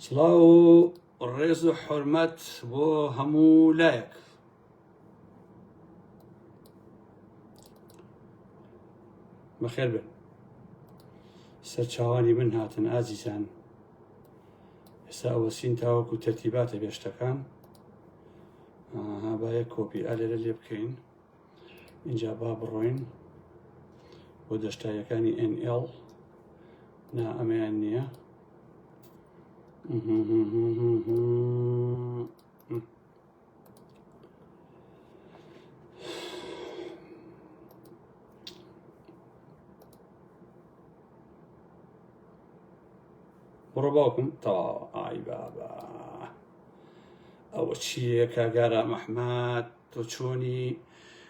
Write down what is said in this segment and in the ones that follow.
سڵاو ڕێز و حرمەت بۆ هەموو لایەک بەخێر بن سەرچاوانی من هاتن ئازیزان ئێستا ئەوەسین تاوەکو تەرتیباتە بێشتەکان با یە کۆپی ئالێرە لێ بکەین اینجا با بڕۆین بۆ دەشتایەکانی NL نا ئەمەیان نییە بڕۆ باوکم تەواوە ئای بابا ئەوە چییە کاگارا مەحمات تۆ چۆنی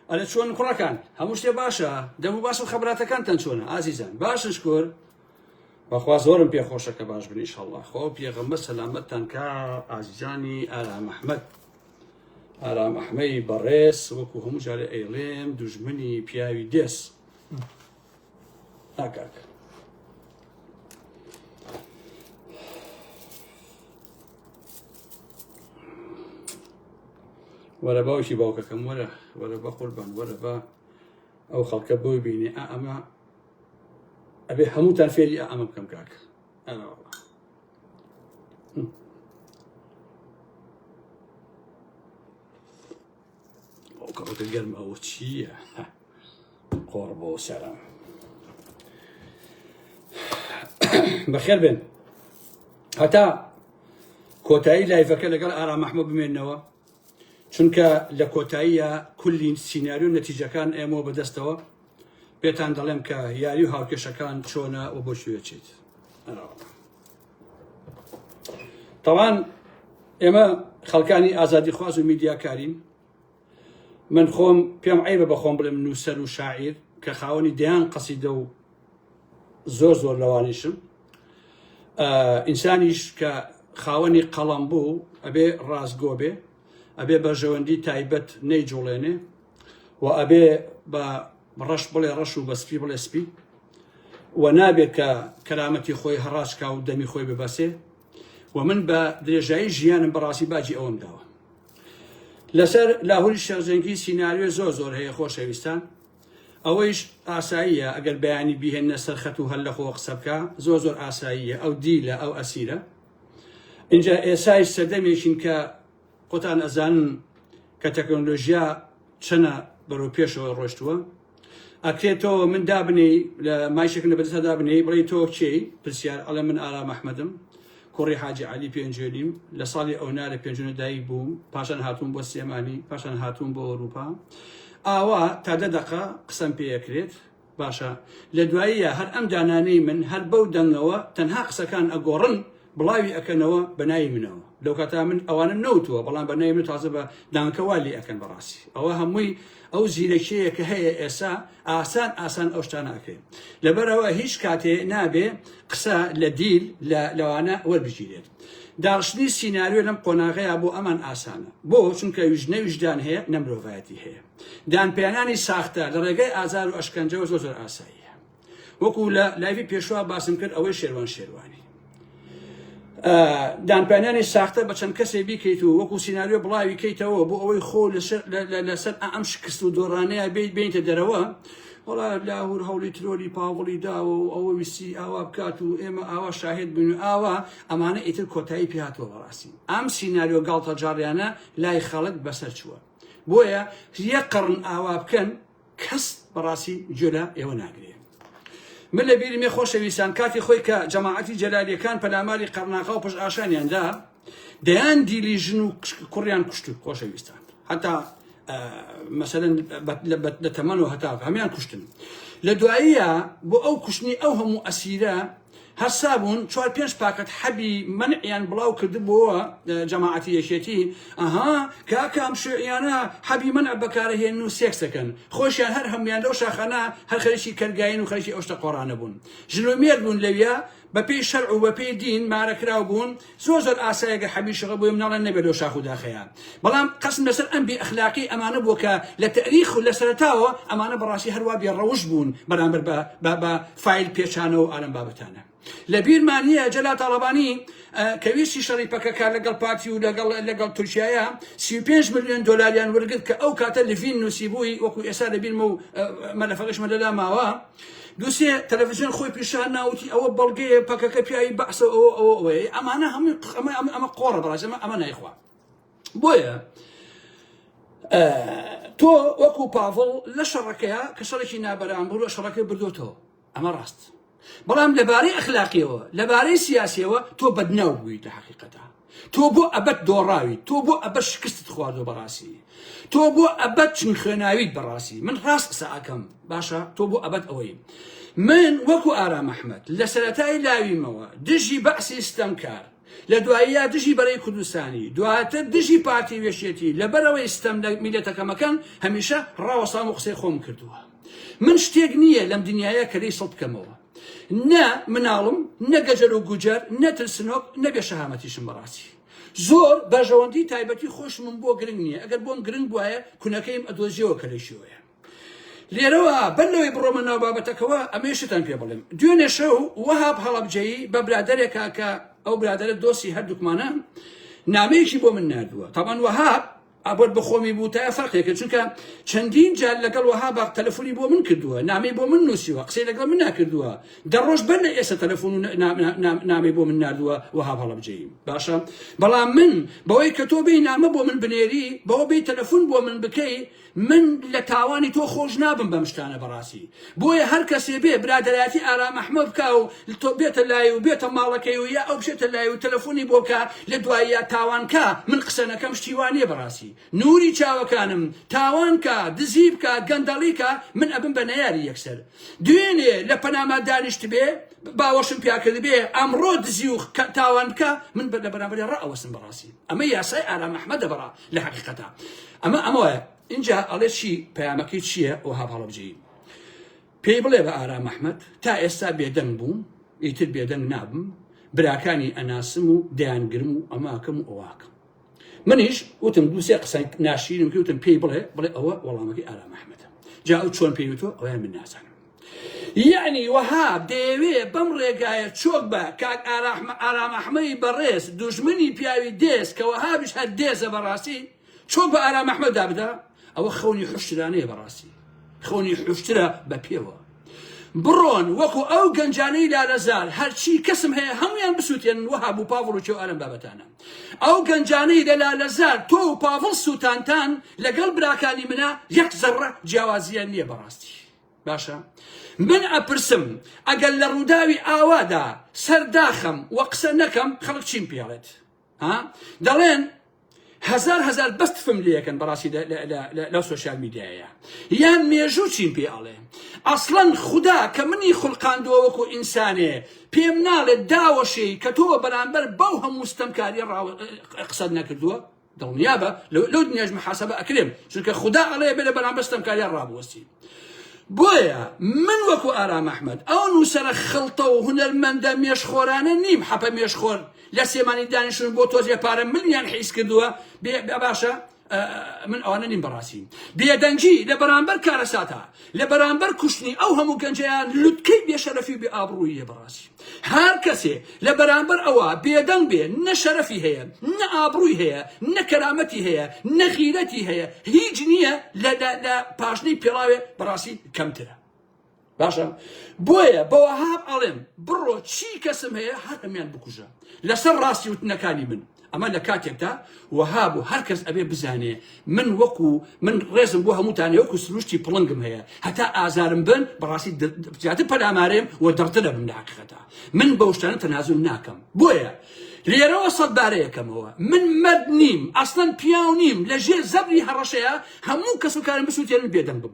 ئەرە چۆن کوڕەکان هەموو شتێ باشە دەمو باش و خەبراتەکانتان چۆنە ئازیزان باشن شکۆر بەخوا زۆرم پێ خۆشە کە باش بنیش هەڵڵا خۆ پێغەمبەر سەلامەتتان کا ئازیزانی ئارام ئەحمەد ئارام ئەحمەی بەڕێز وەکو هەموو جارێ ئەیڵێم دوژمنی پیاوی دێس ها کاک وەرە باوکی باوکەکەم وەرە وەرە بە قوربان وەرە بە ئەو خەڵکە بۆی بینێ ئا ئەمە ئەبێ هەمووتان فێری ئا ئەمە بکەم کاک کەڕۆکە گەرم ئەوە چییە قۆڕ بۆ سەرم بەخێر بێن هەتا کۆتایی لایفەکە لەگەڵ ئارام مححمە بمێنەوە چونکە لە کۆتاییە کولین سینناریو و نەتیجەکان ئێمەوە بەدەستەوە پێتان دەڵێم کە یاری و هاوکێشەکان چۆنە و بۆ شوێچیت. تاوان ئێمە خەڵکانی ئازادی خواز و میدیاکارین من خۆم پێم عیبە بە خۆم بڵێم نووسەر و شاعیر کە خاوەنی دەیان قەسیدە و زۆر زۆر لەوانیشم ئینسانیش کە خاوەنی قەڵم بوو ئەبێ ڕاستگۆ بێ ئەبێ بەرژەوەندی تایبەت نەیجوڵێنێ و ئەبێ بە ڕەش بڵێ ڕەش و بە سپی بڵێ سپی و نابێ کە کەرامەتی خۆی هەڕاجکا و دەمی خۆی ببەسێ و من بە درێژایی ژیانم بەڕاستی باجی ئەوەم داوە لەسەر لاهوری شەرجەنگی سینناریۆ زۆر زۆر هەیە خۆشەویستان ئەوەیش ئاساییە ئەگەر بەیانی بهێنە سەرخەت و هەر لەخۆ قسە بکە زۆر زۆر ئاساییە ئەو دیلە ئەو ئەسیرە اینجا ئێسایش سەردەمێکین کە خۆتان ئەزانن کە تەکنۆلۆژیا چەنە بەرەو پێشەوە ڕۆشتووە ئەکرێت تۆ من دابنێی لە مایشێکم لە بەدەستا دابنێی بڵێی تۆ کێی پرسیار ئەڵێ من ئارام ئەحمەدم کوڕی حاجی علی پێنجوێنیم لە ساڵی ئەونا لە پێنجونە دایک بووم پاشان هاتوون بۆ سلێمانی پاشان هاتوون بۆ ئەوروپا ئاوا تا دە دەقە قسەم پێەکرێت باشە لە دواییە هەر ئەم دانانەی من هەر بەو دەنگەوە تەنها قسەکان ئەگۆڕن بڵاوی ئەکەنەوە بە ناوی منەوە لەوکاتا من ئەوانم نەوتووە بەڵام بە ناوی من تازە بە دانکە وا لێ ئەکەن بەڕاستی ئەوە هەمووی ئەو زیرەکیەیە کە هەیە ئێسا ئاسان ئاسان ئەو شتانە ئەکرێن لەبەرەوە هیچ کاتێ نابێ قسە لە دیل لە لەوانە وەربگیرێت داڕشتنی سیناریۆ لەم قۆناغەیە بۆ ئەمان ئاسانە بۆ چونکە ویژنە ویژدان هەیە نە مرۆڤایەتی هەیە دانپیانانی ساختە لە ڕێگای ئازار و ئەشکەنجەوە زۆر زۆر ئاساییە وەکو لە لایوی پێشوا باسم کرد ئەوەی شێروان شێروانی دانپیانانی ساختە بە چەند کەسێ بیکەیت و وەکو سینناریۆ بڵاوی کەیتەوە بۆ ئەوەی خۆ لەسەر ئەم شکست و دۆڕانەیە بێت بینتە دەرەوە وڵا لاهور هەوڵی ترۆلی پاوڵی داوە و ئەوە ویستی ئاوا بکات و ئێمە ئاوا شاهێت بن و ئاوا ئەمانە ئیتر کۆتایی پیاتەوە بەڕاستی ئەم سینناریۆ گاڵتە جاڕیانە لای خەڵک بەسەر چووە بۆیە یەک قەڕن ئاوا بکەن کەس بەڕاستی گوێ لە ئێوە ناگرێ من لە بیرمێ خۆشەویستان کاتی خۆی کە جەماعەتی جەلالیەکان پەلاماری قەرناغا و پشت ئاشانیاندا دەیان دیلی ژن و کوڕیان کوشت و خۆشەویستان هەتا مەسەن لە تەمەن و هەتا هەمان کوشتن لە دواییە بۆ ئەو کوشتنی ئەو هەموو ئەسیرە هەستابوون چوار پێنج پاکەت حەبی مەنعیان بڵاو کردبۆوە جەماعەتی یەکێتی ئەها کاکە ئەم شیوعیانە حەبی مەنع بەکارە هێنن و سێکس دەکەن خۆشیان هەر هەمویان لەو شاخانە هەر خەریکی کەرگاین و خەریکی ئەو شتە قۆڕانە بوون ژن و مێرد بوون لەویا بەپێی شەرع و بەپێی دین مارەکراو بوون زۆر زۆر ئاسایە گەر حەبی شەغە بۆیە مناڵێن نەبێت لۆ شاخ و داخەیە بەڵام قەسم لەسەر ئەم بێ ئەخلاقی ئەمانە بووە کە لە تەریخ و لە سەرەتاوە ئەمانە بەڕاستی هەروا بێ ڕەوش بوون بەرامبەر بە بە فایل پێچانەوە و ئالەم بابەتانە لە بیرمان نییە جەلا تاڵەبانی کە ویستی شەڕی پەکەکە لەگەڵ پارتی و لەگەڵ لەگەڵ تورکایە 35 میلیۆن دلاریان وەرگرت کە ئەو کاتە لڤین نووسیبووی وەکو ئێستا لە بیرمە و مەلەفەکەشمە لەلا ماوە دوو سێ تەلەفزیۆن خۆی پیشان نا وتی ئەوە بەڵگەیە پەکەکە پیاوی بەعسە و ئەوە ئەوە ئەوەیە ئەمانە هەمووی ق- ئەمە ئەمە ئەمە قۆڕە بەڕاست ئەمە ئەمە نایخوا بۆیە تۆ وەکو پاڤڵ لە شەڕەکەیە کە شەڕێکی نابەران بوو لە شەڕەکەی بردوتەوە ئەمە ڕاست بەڵام لەبارەی ئەخلاقیەوە لەبارەی سیاسیەوە تۆ بەدناو بوویتە حقیقەتە تۆ بۆ ئەبەد دۆڕاویت تۆ بۆ ئەبەد شکستت خواردۆ بەڕاستی تۆ بۆ ئەبەد چون خوێناویت بەڕاستی من ڕاست قسە ئەکەم باشە تۆ بۆ ئەبەد ئەوەی من وەکو ئارام ئەحمد لە سەتای لاویمەوە دژی بەعسی ستەمکار لە دواییە دژی بەرەی کوردستانی دواتر دژی پارتی وێشێتی لەبەرەوەی ستەم لە میلەتەکەمەکەن هەمیشە ڕاوەسام و قسەی خۆم کردووە من شتێک نییە لەم دنیاە کە لەی سڵ بکەمەوە نە مناڵم نە گەجەر و گوجەر نە ترسنۆک نە بێ شەهامەتیشم بەڕاستی زۆر بەرژەوەندی تایبەتی خۆشمم بۆ گرنگ نییە ئەگەر بۆم گرنگ بواە کونەکەیم ئەدۆزیەوە کە لەشیوەیە لێرەوە بەر لەوەی بڕۆمە ناو بابەتەکەەوە ئەمەی شتان پێ بڵێم دوێنێ شەو وەهاب هەڵەبجەیی بە برادێکا کە ئەو برادرە دۆسی هەردووکمانە نامەیەکی بۆ من نردووە تاوان وەهاب ئابۆت بەخۆمی بوتایە فەرقێکە چونکە چەندین جار لەگەڵ وەها باق تەلەفۆنی بۆ من کردووە نامی بۆ من نووسیوە قسەی لەگەڵ من ناکردووە دەڕۆژ بەر لە ئێستا تەلەفۆن و نامی بۆ من نردووە وەها هەڵبجەیم باشە بەڵام من بەوەی کە تۆ بێ نامە بۆ من بنێری بەوە بێ تەلەفۆن بۆ من بکەی من لە تاوانی تۆ خۆش نابم بەم شتانە بەڕاستی بۆیە هەر کەسێ بێ برادەرایەتی ئارام ئەحمەد بکا و بێتە لای و بێتە ماڵەکەی و یا ئەو بچێتە لای و تەلەفۆنی بۆ بکا لە دواییا تاوان کا من قسە نەکەم شتی وا نیە بەڕاستی نوری چاوەکانم تاوان کا دزی بکا گەندەڵی کا من ئەبم بە نەیاری یەکسەر دوێنێ لە پەناما دانیشتبێ باوەشم پیا کردبێ ئەمڕۆ دزی و تاوان بکا من بە لە بەرامبەری ڕائەوەسم بەڕاستی ئەمە یاسای ئارام ئەحمەدە بەڕا لە حەقیقەتە ئەمە ئەمە وایە ئینجا ئەڵێ چی پەیامەکەی چییە وەهاب هەڵەبجەیی پێی بڵێ بە ئارام ئەحمەد تا ئێستا بێدەنگ بووم ئیتر بێدەنگ نابم براکانی ئەناسم و دەیانگرم و ئەماکەم و ئەواکەم منیش وتم دووسێ قسە ناشیرم کەوتم پێی بڵێ بڵێ ئەوە وەڵامەکەی ئارام ئەحمەدە جا ئەو چۆن پێیوتۆ ئەویان من نازانم یعنی وەهاب دەیەوێ بەم ڕێگایە چۆک بە کاک ئارام ئەحمەی بەڕێز دوژمنی پیاوی دێز کە وەهابش هەر دێزە بەڕاستی چۆن بە ئارام ئەحمەد دابدا ئەوە خەونی حشترانەیە بەڕاستی خەونی حشترە بە پێوە بڕۆن وەکو ئەو گەنجانەی لالەزار هەرچی کەسم هەیە هەمویان بسووتێن وەها بوو پاڤڵ و چێو ئارم بابەتانە ئەو گەنجانەی لە لالەزار تۆ و پاڤڵ سووتانتان لەگەڵ براکانی منە یەک زەڕە جیاوازیان نییە بەڕاستی باشە من ئەپرسم ئەگەر لە ڕووداوی ئاوادا سەرداخەم وە قسە نەکەم خەڵک چیم پێڵێت ها دەڵێن هزار هزار بەس تفم لەکەن بەڕاستی لەو سوۆسیال میدیایە یان مێژوو چین پێ ئەڵێ ئەسڵەن خوددا کە منی خولقاندووە وەکو ئینسانێ پێم ناڵێت داوەشی کە تۆ بەرامبەر بەو هەموو ستەمکاری قسەت نەکردووە دڵنیابە لەو دنیاش محاسبە ئەکرێم چونکە خوددا ئەڵێ بێ لە بەرامبەر ستەمکاریان ڕابوەستی بۆیە من وەکو ئارام ئەحمەد ئەو نووسەرە خڵتە و هونەرمەندە مێشخۆرانە نیم حەپە مێشخۆر لە سێمانی دانیشتون بۆ تۆزێ پارە ملیان حیز کردووە بێ باشە من ئەوانە نیم بەڕاستی بێدەنگی لە بەرامبەر کارەساتە لە بەرامبەر کوشتنی ئەو هەموو گەنجیان لوتکەی بێشەرەفی بێ ئابڕوویە بەڕاستی هەر کەسێ لە بەرامبەر ئەوە بێدەنگ بێ نە شەرەفی هەیە نە ئابڕووی هەیە نە کەرامەتی هەیە نە غیرەتی هەیە هیچ نییە لە لە پاشنەی پێڵاوێ بەڕاستی کەمترە باشە بۆیە بەوە هاب ئەڵێم بڕۆ چی کەسم هەیە هەر هەمیان بکوژە لەسەر ڕاستی وتنەکانی من ئەمە لە کاتێکدا وەها بوو هەر کەس ئەبێ بزانێ من وەکو من ڕێزم بۆ هەمووتانێ وەکو سروشتی پڵنگم هەیە هەتا ئازارم بن بەڕاستی زیاتر پەلامارێم و دڕترە بم لە حقیقەتە من بەو شتانە تەنازول ناکەم بۆیە لێرەوە سەد بارەیەکەمەوە من مەد نیم ئەسڵەن پیاو نیم لە ژێر زەبری هەڕەشەیە هەموو کەس و کارم بسووتێنن بێدەنگ بم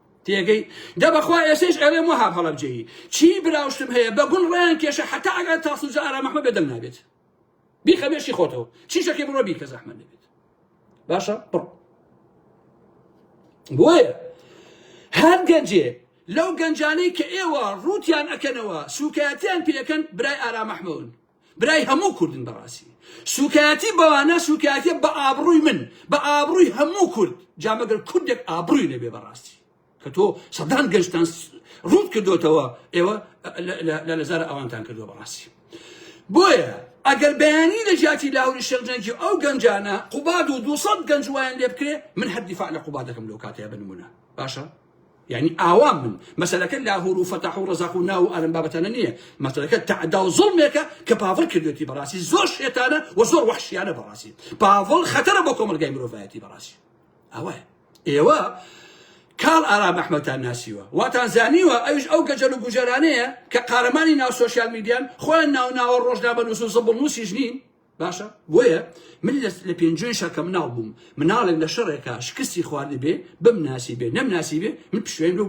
تێگەی دە بەخوا ئێسەیش ئەوێ موهاب هەڵەبجەیی چی براوشتم هەیە بە گوڵ ڕیان کێشە حتا ئەگەر تاسوجا ئارام ئەحمە بێدەنگ نابێت بیخە بێشی خۆتەوە چیشەکەی بڕۆ بیکە زەحمە نەبێت باشە بڕ بۆیە هەر گەنجێ لەو گەنجانەی کە ئێوە ڕووتیان ئەکەنەوە سوکایەتیان پێەکەن برای ئارام ئەحمەون برای هەموو کوردن بەڕاستی سوکایەتی بەوانە سوکایەتە بە ئابڕووی من بە ئابڕووی هەموو کورد جامەگەر کوردێک ئابڕووی نەبێ بەڕاستی کە تۆ سەدان گەشتان ڕوت کردوتەوە ئێوە لە لەزار ئەوانتان کردو بەڕاستی بۆیە ئەگەر بەیانی لە جیاتی لاوری شەرجەنگی ئەو گەنجانە قوباد و دوسەد گەنج وایان لێ بکرێ من هەر دیفاع لە قوبادەکەم لەو کاتەیە بنمونە باشە یانی ئاوام من مەسەلەکە لاهورو فەتاحو ڕەزاقو ناوو ئەلەم بابەتانە نیە مەسەلەکە تەعداو زوڵمێکە کە پاڤڵ کردوێتی بەڕاستی زۆر شێتانە و زۆر وەحشیانە بەڕاستی پاڤڵ خەتەرە بۆ کۆمەلگای مرۆڤایەتی بەڕاستی ئەوە ئێوە کاڵ ئارام ئەحمەتان ناسیوە واتان زانیوە ئەوش ئەو گەجەل و گوجەرانەیە کە قارەمانی ناو سوسیال میدیان خۆیان ناوناوە ڕۆژنامە نووس و زبڵ نووسیش نین باشە بۆیە من لە پێنجوێن شەکە مناڵ بووم مناڵێک لە شەڕێکا شکستی خواردی بێ بم ناسی بێ نەم ناسی بێ من پشوێن لەو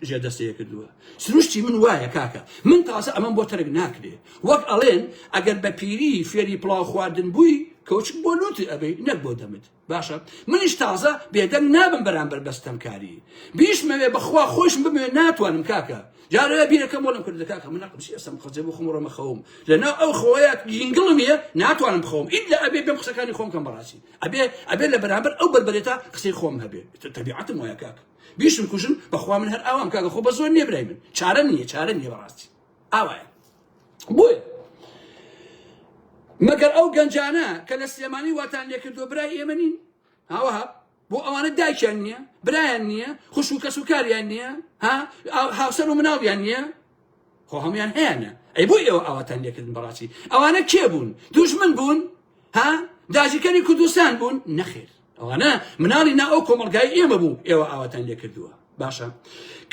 ژێ دەستەیە کردووە سروشتی من وایە کاکە من تازە ئەمەم بۆ تەرک ناکرێ وەک ئەڵێن ئەگەر بە پیری فێری پڵاو خواردن بووی کەوچک بۆ لوتی ئەبی نەک بۆ دەمت باشە منیش تازە بێدەنگ نابم بەرامبەر بە ستەمکاری بیشمەوێ بەخوا خۆشم بمەوێ ناتوانم کاکە جارە بیرەکەم بۆ لەم کردە کاکە من نەقم سیاسم خەجێ بۆ خۆم ڕۆمە خەوم لەناو ئەو خۆیە گینگڵم نیە ناتوانم بخەوم ئیلا ئەبێ بێم قسەکانی خۆم کەم بەڕاستی ئەبێ ئەبێ لە بەرامبەر ئەو بەربەرێتە قسەی خۆم هەبێ تەبیعەتم وایە کاکە بیشم کوژن بەخوا من هەر ئاوام کاکە خۆ بە زۆر نێبرای من چارە نیە چارە نیە بەڕاستی ئاوایە بۆیە مەگەر ئەو گەنجانە کە لە سلێمانی واتان لێکردووە برای ئێمە نین هاوەها بۆ ئەوانە دایکیان نییە برایان نییە خوش و کەس و کاریان نییە ها هاوسەر و مناڵیان نییە خۆ هەمویان هەیەە ئەی بۆ ئێوە ئاواتان لێکردن بەڕاستی ئەوانە کێ بوون دوژمن بوون ها داژیکەری کوردستان بوون نەخێر ئەوانە مناڵی نا ئەو کۆمەلگای ئێمە بوو ئێوە ئاواتان لێ کردووە باشە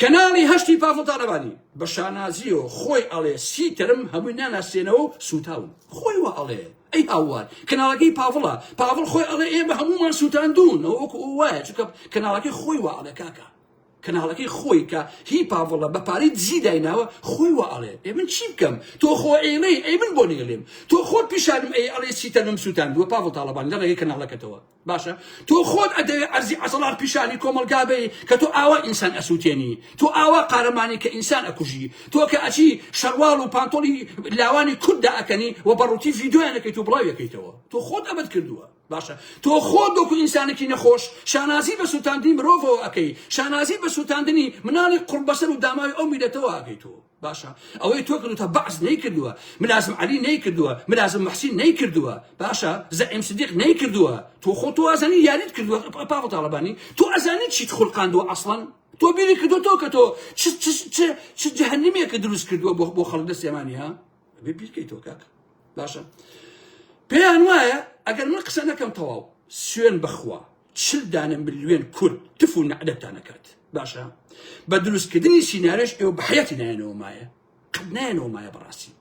کەناڵی هەشتی پافڵتانەبانی بە شانازیەوە خۆی ئەڵێ سی تەرم هەمووی ناناسێنەوە و سوتاون خۆی وە ئەڵێ ئەی هاوار کەناڵەکەی پاڤڵە پاڤڵ خۆی ئەڵێ ئێمە هەموومان سووتاندون ئەوەکو وایە چکە کەناڵەکەی خۆی وە ئەڵێ کاکە کەناڵەکەی خۆی کە هی پاڤڵە بە پارەی دزی دایناوە خۆی وا ئەڵێ ئێ من چی بکەم تۆ خۆ ئێڵێی ئەی من بۆ نێلێم تۆ خۆت پیشانم ئەی ئەڵێ چی تەنم سووتاندووە پاڤڵ تاڵەبان لە ڕێگەی کەناڵەکەتەوە باشە تۆ خۆت ئەدەوێ ئەرزی عەزەڵان پیشانی کۆمەڵگا بەی کە تۆ ئاوا ئینسان ئەسووتێنی تۆ ئاوا قارەمانی کە ئینسان ئەکوژی تۆ کە ئەچی شەڕواڵ و پانتۆڵی لاوانی کورددا ئەکەنی و بەڕووتی ڤیدیۆیانەکەیت و بڵاویەکەیتەوە تۆ خۆت ئەبەت کردووە باشە تۆ خۆت وەکو ئینسانێکی نەخۆش شانازی بە سووتاندنی مرۆڤەوە ئەەکەی شانازی بە سووتاندنی مناڵی قڕبەسەر و داماوی ئەو میلەتەوە ئەگەی تۆ باشە ئەوەی تۆ کردو تا بەعس نەیکردووە ملازم علی نەیکردووە ملازم محسین نەیکردووە باشە زەعیم صدیق نەیکردووە تۆ خۆ تۆ ئازانی یاریت کردووە پاڤ تاڵبانی تۆ ئەزانی چیت خولقاندووە ئەسڵەن تۆ بیری کردو تۆ کە تۆ چ جەهنمێکە دروست کردووە بۆ خەڵک دەستێمانی ها ئەبێ بیرکەیتەوە کاکە باشە پێیان وایە ئەگەر من قسە نەکەم تەواو سوێن بخوا چل دانە ملیۆن کورد تف و نەعدەتان نەکات باشە بە دروستکردنی سینارێش ئێوە بەحەتی نایەنەوە مایە قەت نایەنەوە مایە بەڕاستی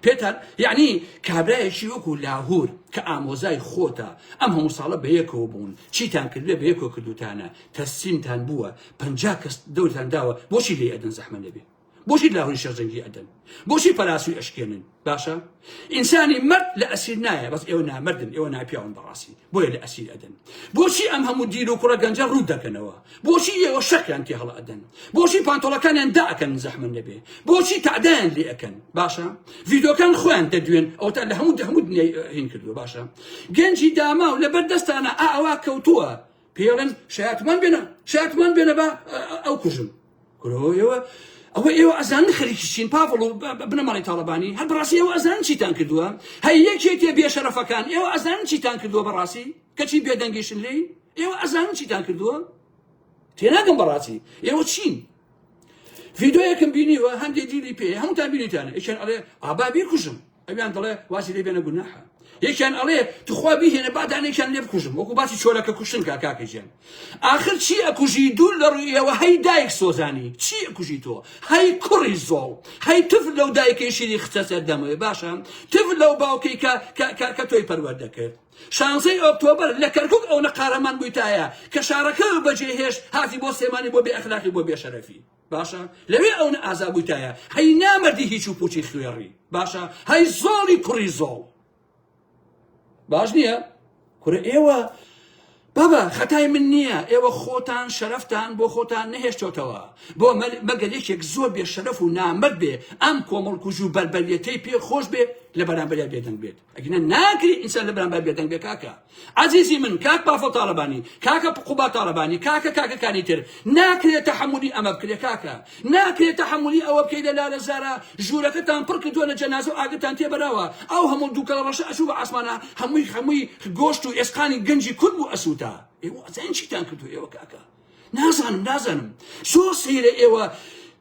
پێتان یعنی کابراایەکی وەکو لاهور کە ئامۆزای خۆتە ئەم هەموو ساڵە بەیەکەوە بوون چیتان کردێ بەیەکۆ کردوتانە تەسیمتان بووە پ کەس دەورتان داوە بۆچی لێ ئەدن زەحمە لەبێ بۆچی لاهوری شێخ جەنگی ئەدەن بۆچی پەلاسوی ئەشکێنن باشە ئینسانی مەرد لە ئەسیر نایە بەس ئێوە نامردن ئێوە ناپیاون بەڕاستی بۆیە لە ئەسیر ئەدەن بۆچی ئەم هەموو دیل و کوڕە گەنجە ڕوو دەکەنەوە بۆچی ئێوە شەقیان تێ هەڵ ئەدەن بۆچی پانتۆڵەکانیان داکەن زەحمن نەبێ بۆچی تعدایان لێ ئەەکەن باشە ڤیدۆکان خۆیان دەدوێن ئەو تا لە هەموو هەموو هین کردو باشە گەنجی داما و لەبەر دەستانە ئاوا کەوتووە پێڵن شاتمان بێنە شاتمان بێنە بە ئەو کوژم ئێوە ئەوە ئێوە ئەزان خەریکی چین پاڤڵ و بنەماڵی تاڵەبانی هەر بەڕاستی ئێوە ئەزان چیتان کردووە هەی یەکێتێ بێشەرەفەکان ئێوە ئەزان چیتان کردووە بەڕاستی کەچی بێدەنگیشن لێی ئێوە ئەزان چیتان کردووە تێناگەم بەڕاستی ئێوە چین ڤیدۆیەکم بینیوە هەندێک دیلی پێ هەمووتان بینیتانە ئەچێن ئەڵێ ئابا بیرکوژم ئەویان دەڵێ واسی لێ بێنە گوناحە یەکیان ئەڵێ تخوا بیهێنە بادانێکیان لێ بکوژم وەکو باسی چۆلەکە کوشتن کا کاکەجیان ئاخر چی ئەکوژی دوور لە ڕوویەوە هەی دایک سۆزانی چی ئەکوژی تۆ هەی کوڕی زۆڵ هەی تف لەو دایکەی شیری خچە سەر دەمەوێ باشە تف لەو باوکەی کە کە تۆی پەروەر دەکرد شانزەی ئۆکتۆبر لە کەرکک ئەوە قارەمان بوویتایە کە شارەکە بەجێهێشت هاتی بۆ سێمانی بۆ بێ ئەخلاقی بۆ بێشەرەفی باشە لەوێ ئەو نە ئازا بوویتایە هەی نامەردی هیچ و پوچی خوێڕی باشە هەی زۆڵی کوڕی زۆڵ باش نییە کورە ئێوە بابا خەتای من نییە ئێوە خۆتان شەرفتان بۆ خۆتان نەهێشتۆتەوە بۆ مەگەل یەکێک زۆر بێ شەرف و نامەت بێ ئەم کۆمەڵکوژ و بەربەریەتەی پێ خۆش بێ لە بەرامبەریا بێدەنگ بێت ئەگینا ناکری ئینسان لەبەرامبەر بێدەنگ بێ کاکە عزیزی من کاک پافڵ تاڵەبانی کاکە قوبا تاڵەبانی کاکە کاکەکانی تر ناکرێت تەحملی ئەمە بکرێ کاکە ناکرێت تەحملی ئەوە بکەی لە لالە زارە ژوورەکەتان پڕ کردووە لە جەنازە و ئاگرتان تێبەراوە ئەو هەموو دووکەڵە ڕەشە ئەچوو بە ئاسمانە هەمووی هەمووی گۆشت و ئێسقانی گەنجی کورد بوو ئەسووتا ئێوە ئەزانین چیتان کردو ئێوە کاکە نازانم نازانم زۆر سەیرە ئێوە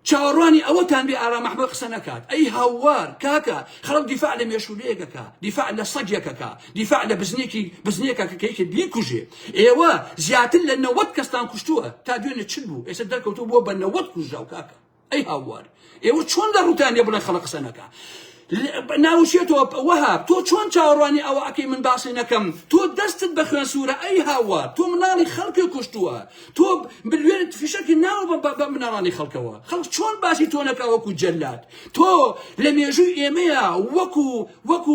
چاوەڕوانی ئەوەتان بێ ئارام ئەحمەد قسە نەکات ئەی هاوار کاکە خەڵک دیفاع لە مێشولەیەکەکە دیفاع لە سەگێکەکە دیفاع لە بزنێکی بزنێکە کە کەیکە بیکوژێ ئێوە زیاتر لە نەوەت کەستان کوشتووە تا دوێنێ چل بوو ئێستا دەرکەوتو بووە بە نەوەت کوژراو کاکە ئەی هاوار ئێوە چۆن لە ڕوتانە بڵێ خەڵە قسە نەکە ناوشێتەوە وەها تۆ چۆن چاوەڕوانی ئەوە ئەەکەی من باسی نەکەم تۆ دەستت بە خوێن سوورە ئەی هاوار تۆ مناڵی خەڵکی کوشتووە تۆ بلوێنت فشەکی ناوە بە مناڵانی خەڵکەوە خەڵک چۆن باسی تۆ نەکە وەکو جەلات تۆ لە مێژووی ئێمەیە وەکو وەکو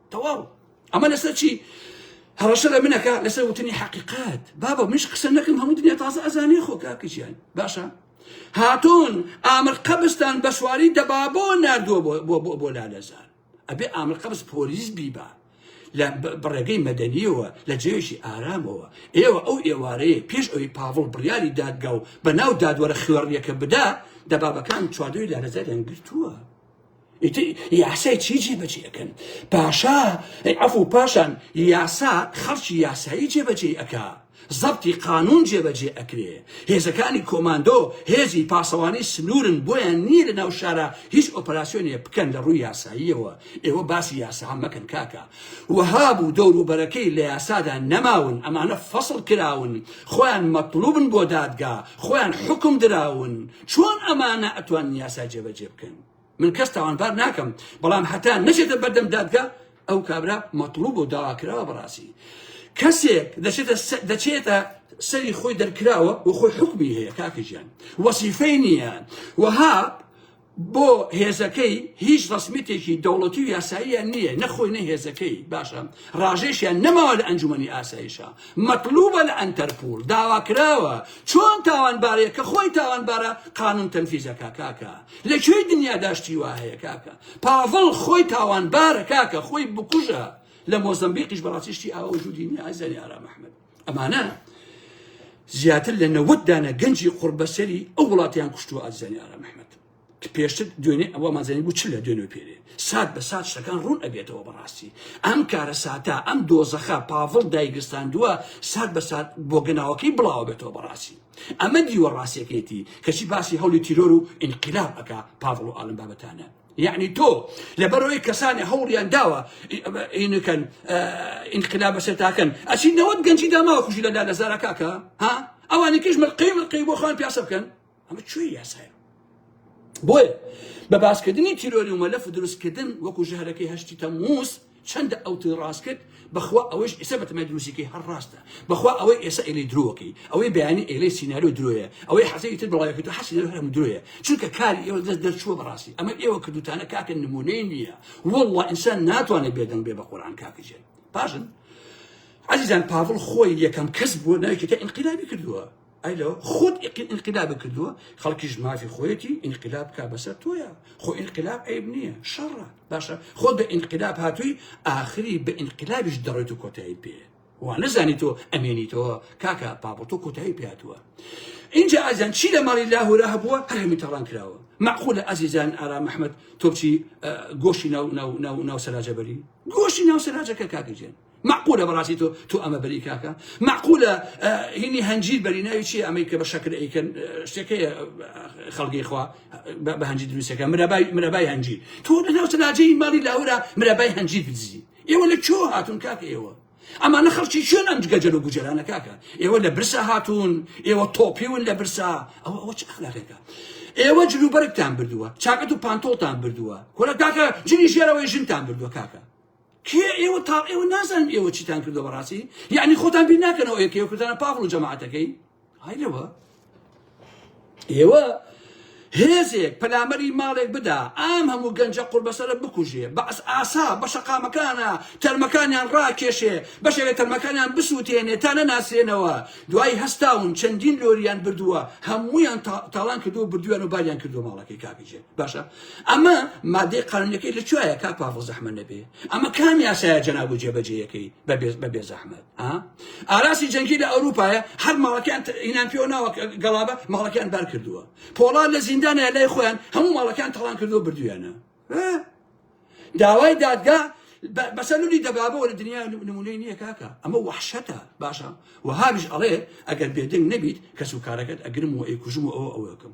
تەواو ئەمە لەسەر چی هەڕەشە لە منەکە لەسەر وتنی حقیقات بابە منش قسە نەکەم هەموو دنیا تازە ئەزانێ خۆ کاکەجیان باشە هاتون ئامر قەبستان بە سواری دەبابۆ نردووە بۆ لالەزار ئەبێ ئامر قەبس پۆلیس بیبا لە بڕێگەی مەدەنیەوە لە جێشی ئارامەوە ئێوە ئەو ئێوارەیە پێش ئەوی پاڤڵ بڕیاری دادگا و بە ناو دادوەرە خوێڕیەکە بدا دەبابەکان چواردەوەی لارەزاریان گرتووە یاسای چی جێبەجێ ئەکەن پاشا ئەفو پاشان یاسا خەڵکی یاسایی جێبەجێ ئەکا زەبتی قانون جێبەجێ ئەکرێ هێزەکانی کۆماندۆ هێزی پاسەوانی سنوورن بۆیان نییە لە ناو شارە هیچ ئۆپەراسسیۆنێ بکەن لە ڕووی یاساییەوە ئێوە باسی یاسا مەکەن کاکە وەها بوو دەوروبەرەکەی لە یاسادا نەماون ئەمانە فەصل کراون خۆیان مەطلوبن بۆ دادگا خۆیان حکم دراون چۆن ئەمانە ئەتوان یاسا جێبەجێ بکەن من کەس تاوانبار ناکەم بەڵام هەتا نەچێتە بەردەم دادگا ئەو کابرا مەطلوب و داواکراوە بەڕاستی کەسێک دەچێتە دەچێتە سەری خۆی دەرکراوە و خۆی حکمی هەیە کاکەژیان وەسیفەی نییە وەها بۆ هێزەکەی هیچ ڕسمیتێکی دەوڵەتی و یاساییان نییە نەخۆی نە هێزەکەی باشە ڕاژێشیان نەماوە لە ئەنجومی ئاسایشە مەطلوبە لە ئەتەرپول داواکراوە چۆن تاوانبارەیە کە خۆی تاوانبارە قانون تەنفیزەکە کاکە لە کوێی دنیادا شتی وا هەیە کاکە پاڤڵ خۆی تاوانبارە کاکە خۆی بکوژە لە مۆزمبیقیش بەڕاستی شتی ئاوا وجودی نیە ئازاری ئارام ئەحمەد ئەمانە زیاتر لە نەوەت دانە گەنجی قوربەسەری ئەو وڵاتیان کوشتووە ئازانی ئارام ئەحمەد کە پێشتر دوێنێ ئەوە مازانی بوو چ لە دوێنێ پێرێ سات بە سات شتەکان ڕوون ئەبێتەوە بەڕاستی ئەم کارە ساتا ئەم دۆزەخە پاڤڵ دایگرستاندووە سات بە سات بۆ گەناوەکەی بڵاوە بێتەوە بەڕاستی ئەمە دیوە ڕاستەکەیەتی کەچی باسی هەولی تیرۆر و ئینقلاب ئەکا پاڤڵ و ئالم بابەتانە یعنی تۆ لەبەرەوەی کەسانی هەوڵیان داوە ئینکەن ئینقلاب بەسەر تاکەن ئەچی نەوەت گەنجی داماوە خوشی لەلا لە زارەکەکە ها ئەوانی کەش ملقەی ملقەی بۆ خۆیان پیاسە بکەن ئەمە کوێ یاسایە بۆیە بە باسکردنی تیرۆری و مەلەف و دروستکردن وەکو ژەهرەکەی هەشتی تەمووز چەندە ئەو توی ڕاست کرد بەخوا ئەوەش ئێسە بەتەمای دروستیکەی هەر ڕاستە بەخوا ئەوەی ئێسە ئێلەی درۆکەی ئەوەی بەیانی ئێلەی سیناریۆ درۆیە ئەوەی حەزەی تر بڵاوەکە تو حەسی لەو هەرم درۆیە چونکە کاری ئێوە دەست دەرچووە بەڕاستی ئەمە ئێوە کردوتانە کاکە نمونەی نییە والله ئینسان ناتوانێت بێدەنگ بێ بە قورآن کاکەجێن پاشن عزیزان پاڤڵ خۆی یەکەم کەس بووە ناوی کتە ئینقلابی کردووە ئەی لەوە خود ئینقلابی کردووە خەڵکیش مافی خۆیەتی ئینقلاب کا بەسەر تۆیە خۆ ئینقلاب عیب نییە شەڕە باشە خۆ بە ئینقلاب هاتووی ئاخری بە ئینقلابیش دەڕێت و کۆتایی پێ وا نەزانی تۆ ئەمێنیتەوە کاکە پاپڵ تۆ کۆتایی پێاتوە اینجا ئازان چی لە ماڵی لاهورا هەبووە هەرمی تاڵان کراوە معقولە ئازیزان ئارا مححمد تۆپچی گۆشی ناو ناو ناو ناو سەراجەبەری گۆشی ناو سەراجەکە کاکەجێن مەعقولە بەڕاستی تۆ تۆ ئەمە بەری کاکە مەعقولە هینی هەنجیر بەری ناوی چی ئەمەی کە بە شەکر ئەیکەن شتەکەی خەڵگەی خوا بە هەنجی دروستەکە مرەبای مرەبای هەنجی تۆ لە ناو تەلاجەی ماڵی لاورا مرەبای هەنجی بدزی ئێوە لە کۆ هاتون کاکە ئێوە ئەمانە خەڵکی شوێن ئەم گەجەل و گوجەرانە کاکە ئێوە لە برسا هاتوون ئێوە تۆپیون لە برسا ئەوە ئەوە چ ئەخلاقێکە ئێوە جلوبەرگتان بردووە چاکەت و پانتۆڵتان بردووە کۆلە کاکە جنی ژێرەوەی ژنتان بردووە کاکە کێ ئێوە تاڵ ئێوە نازانم ئێوە چیتان کردو بەڕاستی یعنی خۆتان بیر ناکەنەوە ئێکێ کوردانە پاڤڵ و جەماعەتەکەی های لەوە ئێوە هێزێک پەلامەری ماڵێک بدا ئام هەموو گەنجە قوربەسەرە بکوژێ بەس ئاسا بە شەقامەکانە تەرمەکانیان ڕاکێشێ بەشێک لە تەرمەکانیان بسووتێنێ تا نەناسرێنەوە دوای هەستاون چەندین لۆریان بردووە هەمویان تاڵان کردو بردویان و باریان کردو ماڵەکەی کاکەجێن باشە ئەمە مادەی قانونەکەی لە کوایە کا پاڤڵ زەحمە نەبێ ئەمە کام یاسایە جەناب و جێبەجێیەکەی بە بێ زەحمەت ئاراسی جەنگی لە ئەوروپایە هەر ماڵەکان ئینان پێوە ناوە گەڵابە ماڵەکان بار کردووە پۆڵا لە زیندانە لای خۆیان هەموو ماڵەکان تەڵان کردووە بردویانە داوای دادگا بەسە لولی دەبابەوە لە دنیا نمونەی نییە کاکە ئەمە وحشەتە باشە وهابش ئەڵێ ئەگەر بێدەنگ نەبیت کەس و کارەکەت ئەگرم و ئەیکوژم و ئەوە ئەوەکەم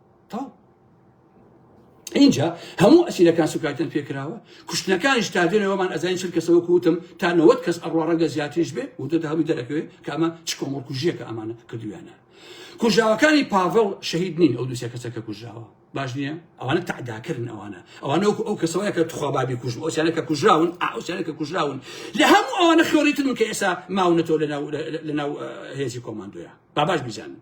تاو اینجا هەموو ئەسیرەکان سوکایتن پێکراوە کوشتنەکانیش تا دێنەوەمان ئەزانین چل کەسەوە کوتم تا نەوەت کەس ئەڕوا ڕەنگە زیاتریش بێ و دەدا هەمی دەرەکەوێ کامە چ کۆمەڵ کوژیەکە ئەمانە کردویانە کوژاوەکانی پاڤڵ شەهید نین ئەو دوسێ کەسەکە کوژاوە باش نییە ئەوانە تعداکردن ئەوانە ئەوانە وەکو ئەو کەسەوەیە کە تخوا بابی کوژ ئەوسیانە کە کوژراون ئاوسیانە کە کوژراون لە هەموو ئەوانە خۆریتن کە ئێسا ماونەتەوە لە ناو هێزی کۆماندۆیە باباش بیزانن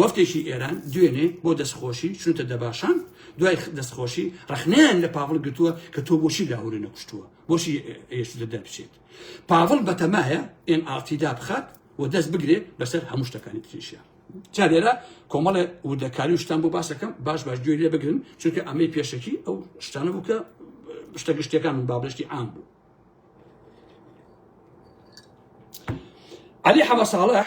وەفتێکی ئێران دوێنێ بۆ دەستخۆشی چونتە دەباشان دوای دەستخۆشی ڕخنیان لە پاڤڵ گرتووە کە تۆ بۆشی لاهوری نەکوشتووە بۆشی ئێشتە دەربچێت پاڤڵ بەتەمایە ئێن ئاڵتیدا بخات و دەست بگرێت بەسەر هەموو شتەکانی تریشە جا لێرە کۆمەڵە وردەکاری و شتان بۆ باسەکەم باش باش گوێ لێ بگرن چونکە ئەمەی پێشەکی ئەو شتانە بوو کە شتە گشتەکان من بابشتی عام بوو علی حەمە ساڵح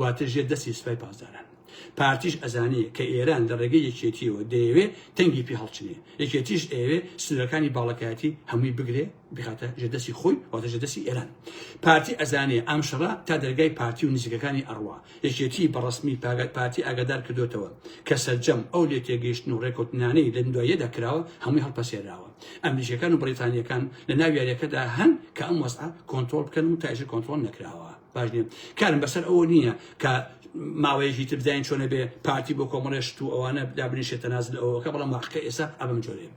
واتە ژێر دەستی سپای پاسداران. پارتیش ئەزانێ کە ئێران لە ڕێگەی یەکێتیەوە دەیەوێ تەنگی پێ هەڵچنێ یەکێتیش ئەوێ سنوورەکانی باڵەکایەتی هەمووی بگرێ بخاتە ژێر دەستی خۆی واتە ژێر دەستی ئێران پارتی ئەزانێ ئەم شەڕە تا دەرگای پارتی و نزیکەکانی ئەڕوا یەکێتی بە ڕسمی پاگەت پارتی ئاگادار کردوێتەوە کە سەرجەم ئەو لێ تێگەیشتن و ڕێکوتنانەی لە دواییەدا کراوە هەمووی هەڵپەسێراوە ئەمریکەکان و بریتانیەکان لە ناو یاریەکەدا هەن کە ئەم وەزعە کۆنتترۆل بکەن و تاژی کۆنتترۆل نەکراوە باش نیە کارم بەسەر ئەوە نیە کە ماوەیەکی تر بزانین چۆنە بێ پارتی بۆ کۆمەڵێ شت و ئەوانە دابنیشێت تەنازل ئەوەکە بەڵام واقعەکە ئێستا ئا بەم جۆرەیە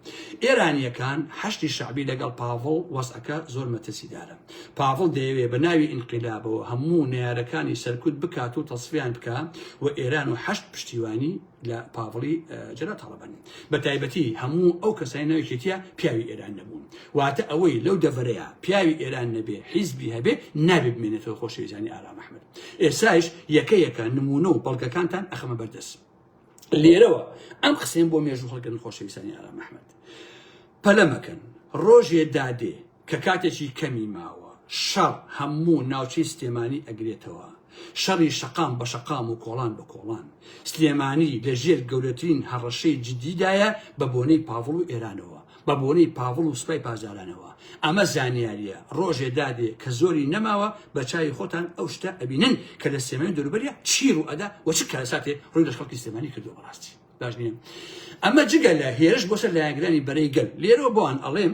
ئێرانییەکان حەشدی شەعبی لەگەڵ پاڤڵ وەزعەکە زۆر مەترسیدارە پاڤڵ دەیەوێ بە ناوی ئینقیلابەوە هەموو نەیارەکانی سەرکوت بکات و تەسفیان بکا و ئێران و حەشد پشتیوانی لە پاڤڵی جەلا تاڵەبانی بە تایبەتی هەموو ئەو کەسای ناوێکێتە پیاوی ئێران نەبوون واتە ئەوەی لەو دەڤەرەیە پیاوی ئێران نەبێ حیزبی هەبێ نابێ بمێنێتەوە خۆشەویزانی ئارام ئەحمد ئێسایش یەکە یەکە نمونە و بەڵگەکانتان ئەخەمە بەردەست لێرەوە ئەم قسەم بۆ مێژوو هەڵگرن خۆشەویستانی ئارام ئەحمد پەلەمەکەن ڕۆژێ دادێ کە کاتێکی کەمی ماوە شەڕ هەموو ناوچەی سلێمانی ئەگرێتەوە، شەڕی شەقام بە شەقام و کۆڵان بە کۆڵان. سلێمانی لە ژێر گەورەترین هەڕەشەی جدی دایە بە بۆنەی پاڤڵ و ئێرانەوە، بە بۆنەی پاڤڵ و سوپای پاسدارانەوە. ئەمە زانیاریە، ڕۆژێ دادێ کە زۆری نەماوە بە چاوی خۆتان ئەو شتە ئەبینن کە لە سلێمانی و دەوروبەریا چی ڕوو ئەدا و چ کارەساتێ ڕووی لە خەڵکی سلێمانی کردووە بە ڕاستی باش نیە ئەمە جگە لە هێرش بۆ سەر لایەنگرانی بەرەی گەل. لێرەوە بۆان ئەڵێم،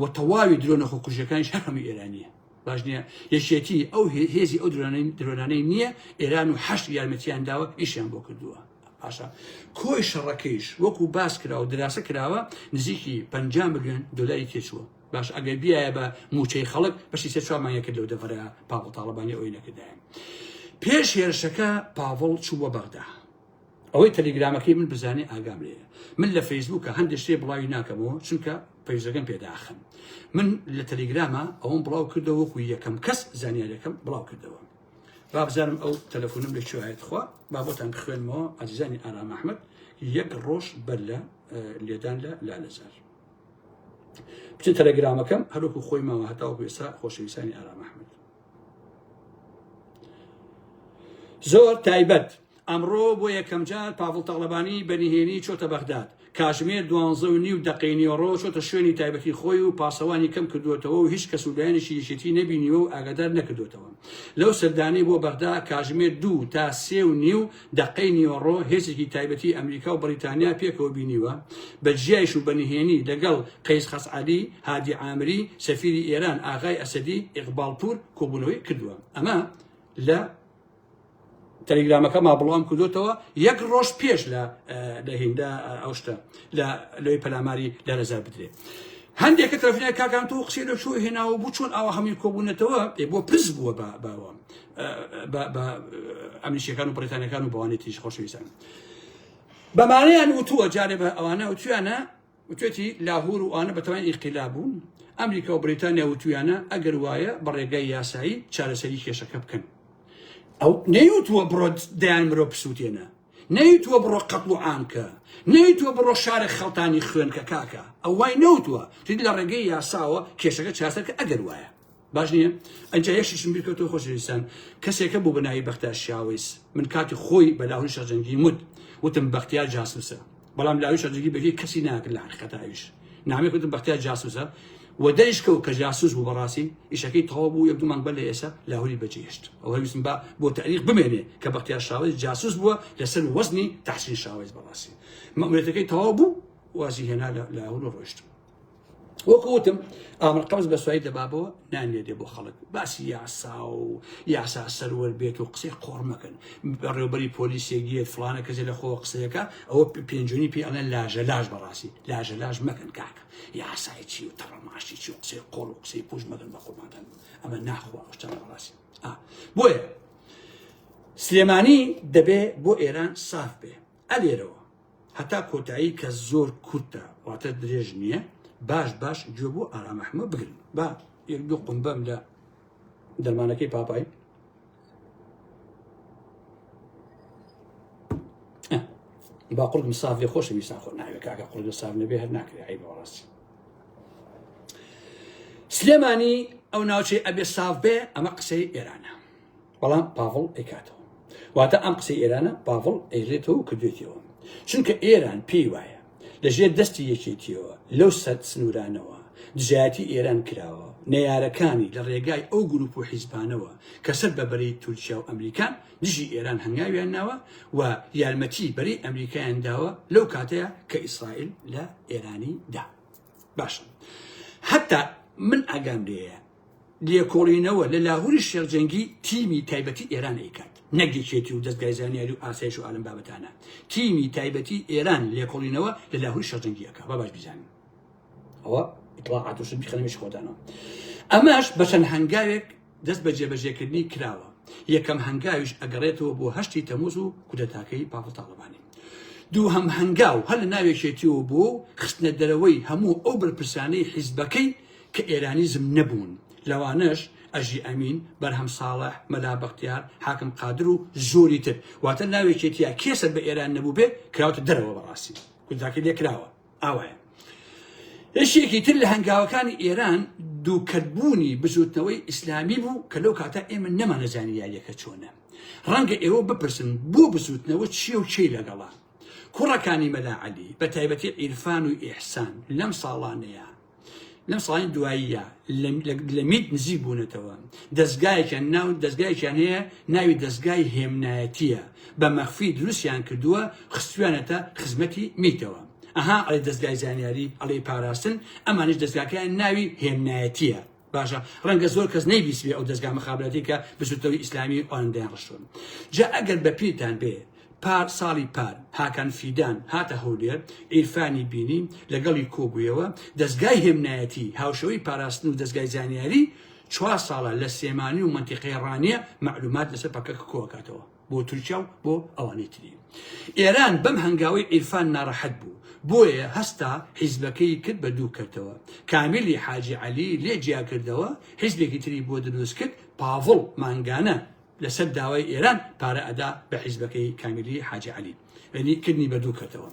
و تەواوی درۆنە خۆکوژەکانیش هەر هەموو ئێرانیە باش نییە یەکێتی ئەو هێزی ئەو درۆنانەی نییە ئێران و حەشت یارمەتیان داوە ئیشیان بۆ کردووە باشە کۆی شەڕەکەیش وەکو باس کرا و دراسە کراوە نزیکی پ ملیۆن دلاری تێچووە باش ئەگەر بیایە بە موچەی خەڵک بەشی سێ چوامانە کرد لەو دەڤەرە پاوەڵ تاڵەبانی ئەوی نەکردایە پێش هێرشەکە پاڤڵ چووە بەغدا ئەوەی تەلیگرامەکەی من بزانێ ئاگام لێیە من لە فەیسبووکە هەندێک شتێ بڵاوی ناکەمەوە چونکە پەیزەکەم پێداخن من لە تەلیگرامە ئەوم بڵاو کردەوە وەکو یەکەم کەس زانیارەکەم بڵاو کردەوە بابزانم ئەو تەلەفۆنم لە کوێهایت خوا بابەتان بخوێنمەوە ئازیزانی ئارام ئەحمد یەک ڕۆژ بەر لە لێدان لە لالەزار بچن تەلەگرامەکەم هەروکو خۆی ماوە هەتاوەکو ئێستا خۆشەویستانی ئارام ئەحمد زۆر تایبەت ئەمڕۆ بۆ یەکەم جار پاڤڵ تاڵەبانی بە نهێنی چۆتە بەغداد کاژمێر دوانزە و نیو دەقەی نیۆڕۆ چۆتە شوێنی تایبەتی خۆی و پاسەوانی کەم کردوێتەوە و هیچ کەس و لایەنێکی یەکێتی نەبینیوە و ئاگادار نەکردوێتەوە لەو سەردانەی بۆ بەغدا کاژمێر دوو تا سێ و نیو دەقەی نیوەڕۆ هێزێکی تایبەتی ئەمریکا و بەڕیتانیا پێکەوە بینیوە، بە جیایش و بە نهێنی لەگەڵ قەیس خەسعەلی، هادی عامری، سەفیری ئێران ئاغای ئەسەدی، ئیقباڵ پوور، کۆبوونەوەی کردووە. ئەمە لە. تەلیگرامەکەما بڵاوم کردۆتەوە یەک ڕۆژ پێش لە لە هیندا ئەو شتە لە لەوەی پەلاماری لە لەزار بدرێت. هەندێک کە تەلەفۆنیان کاکان تۆ قسەی لە چۆ هێناوە بوو چۆن ئاوا هەمووی کۆبوونەتەوە بۆ پرس بووە بە باوە ئەمریشیەکان و بریتانەکان و بەوانی تیش خۆشەویستان بەمانەیان وتووە جارێ بە ئەوانە وتویانە وتێتی لاهور و ئەوانە بەتوان ئیقیلا بوون ئەمریکا و بریتانیا وتویانە ئەگەر وایە بە ڕێگای یاسایی چارەسەری کێشەکە بکەن ئەو نەیوتووە بڕۆ دەیان مرۆ پسووتێنە نەیوتوە بڕۆ قەتڵ و عام کە نەیوتوە بڕۆ شارێک خەڵتانی خوێن کە کاکە ئەو وای نەوتوە تید لە ڕێگەی یاساوە کێشەکە چاسەر کە ئەگەر وایە باش نییە ئەجا یەکشیشم بیرکەوتو خۆشویستان کەسێکە بوو بەناوی بەختار شاویس من کاتی خۆی بەلاهوری شەرجەنگی مت وتم بەختیار جاسوسە بەڵام لە ئەویشا جگی بەجێ کەسی ناکرد لە حقیقەت ئەویش نامی کردن بەختیار جاسوسە و دەریشکەوت کە جاسوس بوو بەڕاستی ئیشەکەی تەواو بوو یەک دومان بەر لە ئێسا لاهوری بەجێهێشت ئەو هەویستم با بۆ تاریخ بمێنێ کە بەختیار شاوەز جاسوس بووە لەسەر وەزنی تحسین شاوەز بەڕاستی مەموریەتەکەی تەواو بوو وازی هێنا لە لاهور و ڕۆشت وەکوتم ئامر قەوز بە سوای دەبابەوە نانێدێ بۆ خەڵک باسی یاسا و یاسا سەروەر بێت و قسەی قۆڕمەکەن بەڕێوبەری پۆلیسێگیێت فلانە کەسێ لە خۆ قسەیەەکە ئەوە پێنجونی پێ ئەڵێن لاژە لاش بەڕاستی لاژە لاش مەکەن کاکە یاسای چی و تەڕەماشی چی و قسەی قۆڵ و قسەی پوش مەگەن بە خۆمانتان ئەمە ناخوا شتە بەڕاستی بۆیە سلێمانی دەبێ بۆ ئێران ساف بێ ئە لێرەوە هەتا کۆتایی کە زۆر کورتە واتە درێژ نییە باش باش گوێ بۆ ئارامەحمە بگرن با یەک دوو قمبەم لە دەرمانەکەی پاپای با قرد مساف لێ خۆشە میسان خۆ ناوێت کاکە قرد ساف نەبێ هەر ناکرێ ئەی بەڕاستی سلێمانی ئەو ناوچەی ئەبێ ساف بێ ئەمە قسەی ئێرانە بەڵام پاڤڵ ئەیکاتەوە واتە ئەم قسەی ئێرانە پاڤڵ ئەیلێتەوە و کردێتەوە چونکە ئێران پێی وایە لەژێر دەستی یەکێتیەوە لەو سەد سنوورانەوە دژایەتی ئێران کراوە نەیارەکانی لە ڕێگای ئەو گروپ و حیزبانەوە کە سەر بە بەرەی تورکیا و ئەمریکان دژی ئێران هەنگاویان ناوە و یارمەتی بەرەی ئەمریکایان داوە لەو کاتەیە کە ئیسرائیل لە ئێرانی دا باشە هەتا من ئاگام لێە لێکۆڵینەوە لە لاهوری شێخ جەنگی تیمی تایبەتی ئێران ئەیکات نەک یەکێتی و دەزگای زانیاری و ئاسایش و ئالەم بابەتانە تیمی تایبەتی ئێران لێکۆڵینەوە لە لاهوری شێخ جەنگی ئەکا با باش بیزانین ئەوە ئیطلاعات وشت بخەنەمێش خۆدانەوە ئەمەش بەچەند هەنگاوێک دەست بە جێبەجێکردنی کراوە یەکەم هەنگاویش ئەگەڕێتەوە بۆ هەشتی تەموز و کودەتاکەی پاپڵ تاڵەبانی دوو هەم هەنگاو هەر لە ناوێکێتیەوە بۆ خستنە دەرەوەی هەموو ئەو بەرپرسانەی حیزبەکەی کە ئێرانیزم نەبوون، لەوانەش، ئەژی ئەمین، بەرهەم ساڵح، مەلا بەختیار، حاکم قادر و زۆری تر. واتە لەناو یەکێتییە کێ سەر بە ئێران نەبووبێ کراوەتە دەرەوە بەڕاستی گوزداکەی لێ کراوە. ئاوایە. یەکێکی تر لە هەنگاوەکانی ئێران دووکەتبوونی بزووتنەوەی ئیسلامی بوو کە لەو کاتە ئێمە نەمانەزانی یارییەکە چۆنە. ڕەنگە ئێوە بپرسن بۆ بزووتنەوە چییە و کێی لەگەڵە؟ کوڕەکانی مەلا عەلی، بە تایبەتی عیرفان و ئیحسان لەم ساڵانەیا، لەم ساڵانی دواییە لە میت نزیک بوونەتەوە دەستگایەکیان ناو دەستگایکیان هەیە ناوی دەستگای هێمنایەتیە بە مەخفی دروستیان کردووە خستویانەتە خزمەتی میتەوە ئەها ئەڵێ دەستگای زانیاری ئەڵێ پاراستن ئەمانش دەستگاکەیان ناوی هێمنایەتیە باشە ڕەنگە زۆر کەس نەیبیسبێ ئەو دەزگا مخابراتی کە بزوتنەوەی ئیسلامی ئەوان دەیان ڕشتون جا ئەگەر بە پیرتان بێ پار ساڵی پار هاکان فیدان هاتە هەولێر ئیرفانی بینی لەگەڵی کۆبوویەوە دەستگای هێمنایەتی هاوشەوەی پاراستن و دەستگای زانیاری چوار ساڵە لە سێمانی و منتیقەی ڕانیە مەعلومات لەسەر پەکەکە کۆکاتەوە بۆ تورکیا و بۆ ئەوانی تری ئێران بەم هەنگاوەی عیرفان ناڕەحەت بوو بۆیە هەستا حیزبەکەی کرد بە دوو کەرتەوە کامیلی حاجی عەلی لێ جیا کردەوە حیزبێکی تری بۆ دروست کرد پاڤڵ مانگانە لەسەر داوای ئێران پارە ئەدا بە حیزبەکەی کامیلی حاجی عەلی یەنی کردنی بە دوو کەتەوە.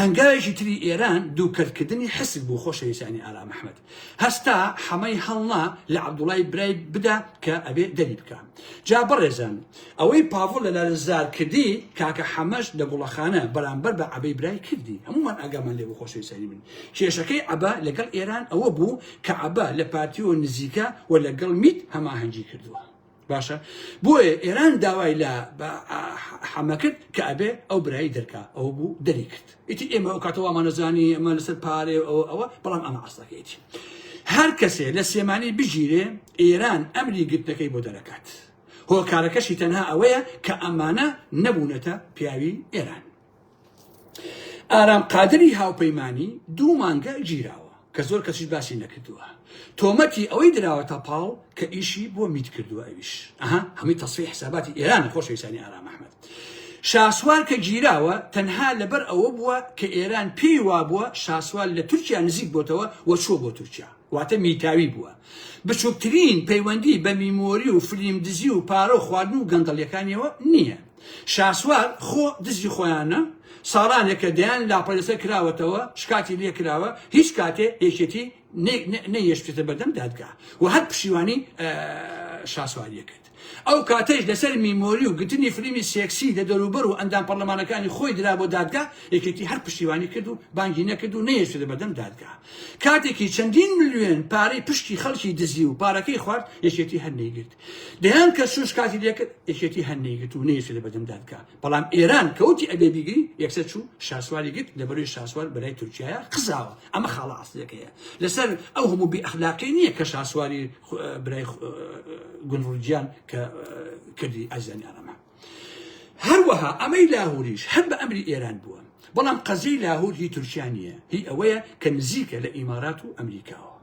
هەنگاوێکی تری ئێران دوو کەت کردنی حسک بوو خۆشەویستانی ئارام ئەحمەد. هەستا حەمەی هەڵنا لە عەبدوڵای برای بدا کە ئەبێ دەری بکا. جا بەڕێزان ئەوەی پاڤڵ لە لالەزار کردی کاکە حەمەش لە گوڵەخانە بەرامبەر بە عەبەی برای کردی. هەموومان ئاگامان لێ بوو خۆشەویستانی من. کێشەکەی عەبە لەگەڵ ئێران ئەوە بوو کە عەبە لە پارتیەوە نزیکە و لەگەڵ میت هەماهەنگی کردووە. باشە بۆیە ئێران داوای لە حەمە کرد کە ئەبێ ئەو برایی دەرکا ئەو بوو دەری کرد ئیتی ئێمە ئەو کاتەوە ئەمانەزانی ئەمە لەسەر پارێ ئەوە ئەوە بەڵام ئەمە ئاستەکەیتی هەر کەسێ لە سێمانی بگیرێ ئێران ئەمری گرتنەکەی بۆ دەرەکات هۆکارەکەشی تەنها ئەوەیە کە ئەمانە نەبوونەتە پیاوی ئێران ئارام قادری هاوپەیمانی دوو مانگە گیراوە کە زۆر کەسیش باسی نەکردووە تۆمەتی ئەوەی دراوەتە پاڵ کە ئیشی بۆ میت کردووە ئەویش ئەها هەمی تەسفی حساباتی ئێران خۆشەویستانی ئارام ئەحمەد شاسوار کە گیراوە تەنها لەبەر ئەوە بووە کە ئێران پێی وابووە شاسوار لە تورکیا نزیک بۆتەوە وە چووە بۆ تورکیا واتە میتاوی بووە بچووکترین پەیوەندی بە میمۆری و فلیم دزی و پارە و خواردن و گەندەڵیەکانیەوە نییە شاسوار خۆ دزی خۆیانە ساڵانێکە دەیان لاپە لەسەر کراوەتەوە شکاتی لێ کراوە هیچ کاتێ یەکێتی نەیشتێتە بەردەم دادگا و هەر پشیوانی شاسواریە کرد ئەو کاتەش لەسەر میمۆری و گرتنی فلیمی سێکسی لە دەروبەر و ئەندام پەرلەمانەکانی خۆی درا بۆ دادگا یەکێتی هەر پشتیوانی کرد و بانگی نەکرد و نەیشتێتە بەردەم دادگا کاتێکی چەندین ملیۆن پارەی پشکی خەڵکی دزی و پارەکەی خوارد یەکێتی هەر نەیگرت دەیان کە شوش کاتی لێکرد یەکێتی هەر نەیگرت و نەیەوێت لە بەردەم دادگا بەڵام ئێران کەوتی ئەبێ بیگری یەکسەر چوو شاسواری گرت لە بەروی شاسوار بەلای تورکیایە قزاوە ئەمە خاڵە ئاسلەکەیە لەسەر ئەو هەموو بی ئەخلاقی نییە کە شاسواری برای گونڕجیان کە کردی ئازیانی ئەرەمە هەروەها ئەمەی لاهوریش هەر بە ئەمری ئێران بووە بەڵام قەزیی لاهور هی تورکیا نییە هی ئەوەیە کە نزیکە لە ئیمارات و ئەمریکاوە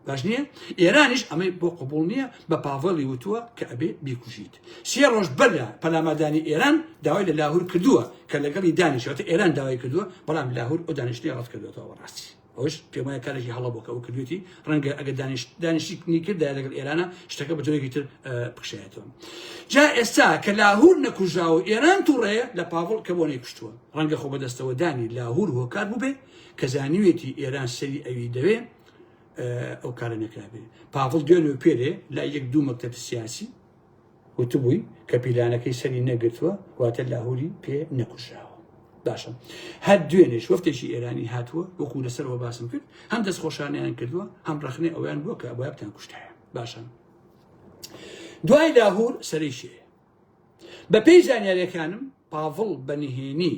باش نییە ئێرانیش ئەمەی بۆ قبول نییە بە پاڤڵی وتووە کە ئەبێ بیکوژیت سێ ڕۆژ بەرە پەلامادانی ئێران داوای لە لاهور کردووە کە لەگەڵی دانیشێتە ئێران داوای کردووە بەڵام لاهور ئەو دانیشتنی ڕەت کردوێتەوە بەڕاستی ئەوش پێمای کارێکی هەڵە بۆکە ئەو کردوێتی ڕەنگە ئەگە دانیشت دانیشتی نیکردا لەگەڵ ئێرانە شتەکە بە جۆرێکی تر بکشێتەوە جا ئێستا کە لاهور نەکوژا و ئێران تووڕێ لە پاڤڵ کە بۆ نەیکوشتووە ڕەنگە خۆ بەدەستەوە دانی لاهور هۆکار بووبێ کە زانیوێتی ئێران سەری ئەوی دەوێ ئەو کارە نەکرابێ پاڤڵ دوێن و پێرێ لە یەک دوو مەکتب سیاسی وتبووی کە پیلانەکەی سەری نەگرتووە واتە لاهوری پێ نەکوشاوە باشە هەر دوێنێش وەفتێکی ئێرانی هاتووە وەکو لەسەرەوە باسم کرد هەم دەست خۆشانیان کردووە هەم ڕخنێ ئەویان بووە کە ئەبابتان کوشتایە باشە دوای لاهور سەرشێ بە پێی زانیارەکانم پاڤڵ بە نهێنی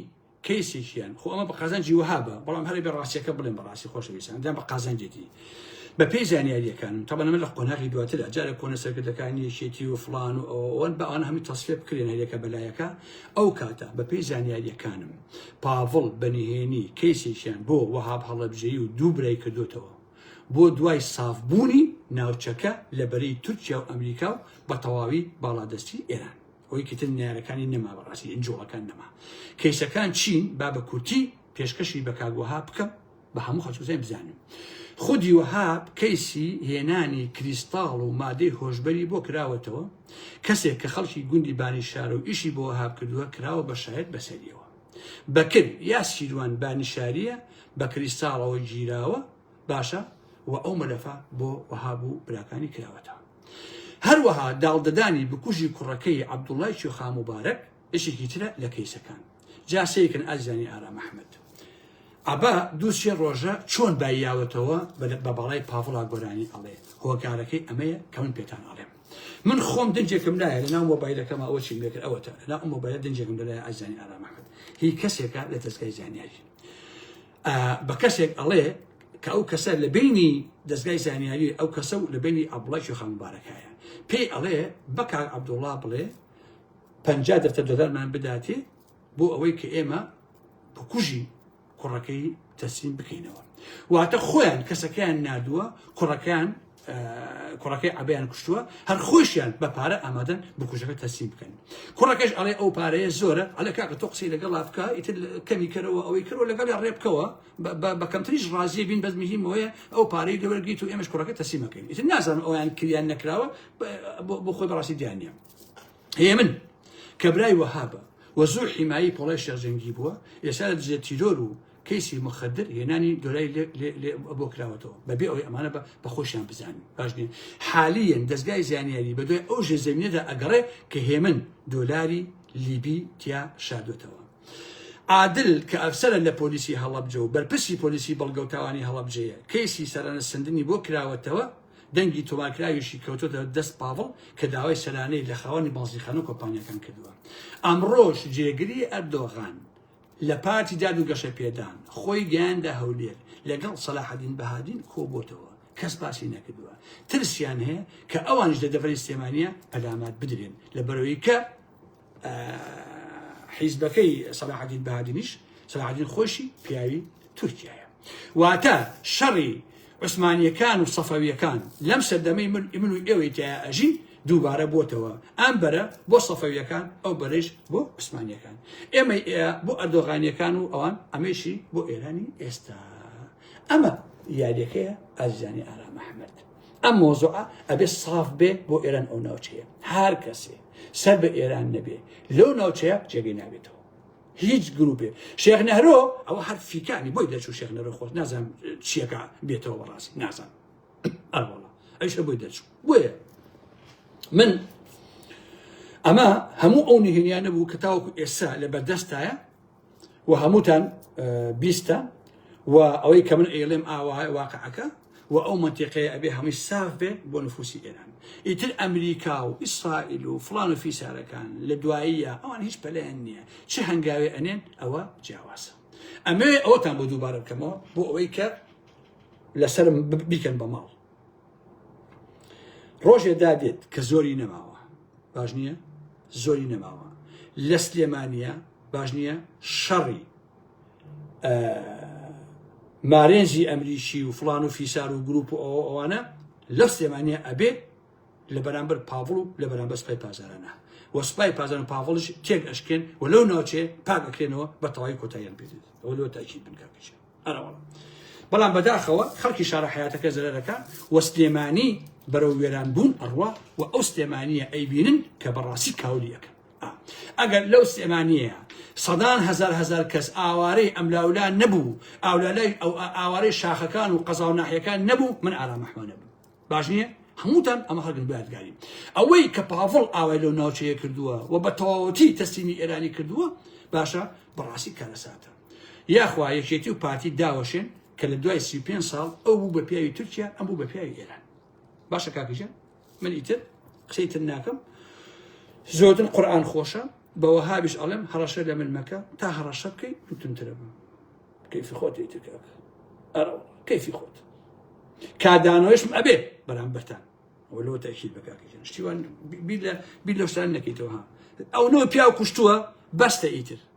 کەیسێکیان خۆ ئەمە بە قازانجی وەها بە بەڵام هەرێ بە ڕاستیەکە بڵێن بەڕاستی خۆشەویستان دام بە قازانجێتی بە پێی زانیاریەکانم تەبەن من لە قۆناغی دواترە جارە کۆنە سەرکردەکانی یەکێتی و فلان و ئەوەن بە ئەوان هەمی تەسفێ بکرێن هەرێکە بەلایەکە ئەو کاتە بە پێی زانیاریەکانم پاڤڵ بەنهێنی کەیسێکیان بۆ وەهاب هەڵەبژەیی و دوو برای کردوتەوە بۆ دوای سافبوونی ناوچەکە لە بەرەی تورکیا و ئەمریکا و بە تەواوی باڵادەستی ئێران ئەوەی کە تر نەیارەکانی نەما بەڕاستی ئنجۆڵەکان نەما کەیسەکان چین با بە کورتی پێشکەشی بە کاگوەها بکەم بە هەموو خەچوزای بزانم خودی وەهاب کەیسی هێنانی کریستاڵ و مادەی هۆشبەری بۆ کراوەتەوە کەسێک کە خەڵکی گوندی بانی شارە و ئیشی بۆ وەهاب کردووە کراوە بە شاید بەسەریەوە بەکر یا سیروان بانیشاریە بە کریستاڵەوە گیراوە باشە و ئەو مەلەفە بۆ وەهاب و براکانی کراوەتەوە هەروەها داڵدەدانی بکوژی کوڕەکەی عەبدوڵای کوێخا موبارەک بەشێکی ترە لە کەیسەکان جا سەیرکەن ئازیزانی ئارام ئەحمەد عەبا دوو سێ ڕۆژە چۆن باییاوەتەوە بە باڵای پاڤڵا گۆرانی ئەڵێ هۆکارەکەی ئەمەیە کە من پێتان ئەڵێم من خۆم دەنجێکم لایە لە ناو مۆبایلەکەمە ئەوە چیم لێکرد ئەوەتە لە ئەم مۆبایلە دەنجێکم لەلای ئازانی ئارامەکەت هی کەسێکە لە دەستگای زانیاری بە کەسێک ئەڵێ کە ئەو کەسە لە بینی دەستگای زانیاری ئەو کەسە و لە بینی ئەبڵای شوخان مبارەکایە پێی ئەڵێ بەکار عبدوڵا بڵێ پ دەفتە دۆلارمان بداتێ بۆ ئەوەی کە ئێمە بکوژی کوڕەکەی تەسلیم بکەینەوە واتە خۆیان کەسەکەیان نادووە کوڕەکان کوڕەکەی عبیان کوشتووە هەر خۆشیان بە پارە ئامادەن بکوژەکە تەسیم بکەن کوڕەکەش ئەڵێ ئەو پارەیە زۆرە ئەلە کاکە تۆ قسەی لەگەڵ لافکە ئیتر کەمی کەرەوە ئەوەی کەەوە لەگەڵ ڕێ بکەوە بە کەمتریش ڕازیە بین بەس مهمەیە ئەو پارەی لەوەرگیت و ئێمەش کوڕەکە تەسیمەکەین ئیتر نازانم ئەویان کریان نەکراوە بۆ خۆی بەڕاستی دیانە هەیە من کەبرای وەهابە وە زۆر حیمایی پۆڵای شێرزەنگی بووە ئێستا لە دژێت تیرۆر و کەیسی مخدر هێنانی دۆلای بۆ کراوەتەوە بەبێ ئەوەی ئەمانە بە بەخۆشیان بزانین باش نیە حالیەن دەستگای زانیاری بە دوای ئەو ژێ زمینەدا ئەگەڕێ کە هێمن دۆلاری لیبی تیا شاردوێتەوە عادل کە ئەفسەرە لە پۆلیسی هەڵبجە و بەرپرسی پۆلیسی بەڵگەوتاوانی هەڵبجەیە کەیسی سەرانە سندنی بۆ کراوەتەوە دەنگی تۆمارکراویشی کەوتۆتە دەست پاڤڵ کە داوای سەرانەی لە خاوەنی بازیخانە و کۆمپانیەکان کردووە ئەمڕۆش جێگری ئەردۆغان لە پارتی داد و گەشە پێدان خۆی گەیاندە هەولێر لەگەڵ سەلاحەدین بەهادین کۆبووتەوە کەس باسی نەکردووە ترسیان هەیە کە ئەوانش لە دەڤەری سلێمانە پەلامات بدرێن لە بەرەوەی کە حیزبەکەی سەلاحەدین بەهادینیش سەلاحەدین خۆشی پیاوی تورکیایە واتە شەڕی عوسمانیەکان و سەفەویەکان لەم سەردەمەی من ئمن و ئێوەی تیا ئەژین دووبارە بۆتەوە ئەم بەرە بۆ سەفەویەکان ئەو بەرێش بۆ عوسمانیەکان ئێمە بۆ ئەردۆغانیەکان و ئەوان ئەمەشی بۆ ئێرانی ئێستا ئەمە یاریەکەیە ئازیزانی ئارام مححمد ئەم مۆزۆع ئەبێ ساف بێ بۆ ئێران ئەو ناوچەیە هەر کەسێ سەر بە ئێران نەبێ لەو ناوچەیە جێگەی نابێتەوە هیچ گروپێ شێخ نەرۆ ئەوە هەر فیکانی بۆی دەچوو شێخ نەرۆ خۆت نازان چیەکە بێتەوە بەڕاستی نازان ئەوڵە ئەیشە بۆی دەچوو بۆیە من ئەمە هەموو ئەو نهێنیانە بوو کە تاوەکو ئێستا لە بەردەستایە و هەمووتان بیستە و ئەوەی کە من ئێڵێم ئاوا واقعەکە وە ئەو مەنتیقەیە ئەبێ هەمووی ساف بێ بۆ نفوسی ئێران ئیتر ئەمریکا و ئیسرائیل و فڵان و فیسارەکان لە دواییە ئەوان هیچ پەلیان نییە چ هەنگاوێ ئەنێن ئەوە جیاوازە ئەمێ ئەوەتان بۆ دووبارە بکەمەوە بۆ ئەوەی کە لەسرم بیکەن بە ماڵ ڕۆژێ دادێت کە زۆری نەماوە باش نییە زۆری نەماوە لە سلێمانە باش نییە شەڕی مارێنزی ئەمریکی و فلان و فیسار و گروپ و ئەوە ئەوانە لە سلێمانە ئەبێ لە بەرامبەر پاڤڵ و لە بەرامبەر سپای پازارانە و سپای پازان و پاڤڵش تێک ئەشکێن و لەو ناوچێ پاک ئەکرێنەوە بە تەواوی کۆتاییان پێ ئەوە لەوە تاکی بنکاکەش ئەرەوە بەڵام بەداخەوە خەڵکی شارە حیاتەکە زەرەکە و سلێمانی بەرەو وێران بوون ئەڕوا و ئەو سلێمانیە ئەیبینن کە بەڕاستی کاولیەکە ئەگەر لەو سلێمانیەیا سەدان هەزار هەزار کەس ئاوارەی ئەملاولا نەبوو ئاولالای ئەو ئاوارەی شاخەکان و قەزا و ناحیەکان نەبوو من ئارام ئەحمەدە بوو باش نییە هەمووتان ئەمە هەگن بادگاری ئەوەی کە پاڤڵ ئاوای لەو ناوچەیە کردووە و بە تەواوەتی تەسلیمی ئێرانی کردووە باشە بەڕاستی کارەساتە یاخوا یەکێتی و پارتی داوەشێن کە لە دوای سی پێ ساڵ ئەو بوو بە پیاوی تورکیا ئەم بوو بە پیاوی ئێران باشە کاکژە من ئیتر قسەی تر ناکەم زۆرتر قورآن خۆشە بەوە هابیش ئەڵێم هەڕەشە لە من مەکە تا هەڕەشە بکەی من تونترە بم کەیفی خۆت ئیترکە ئەرە کەیفی خۆت کادانەوەشم ئەبێ بەرامبەرتان وەلۆ تەکیل بەکاکەن شتیوان بیر لە شتان نەکەیتەوە ئەو نۆ پیاو کوشتووە بەستە ئیتر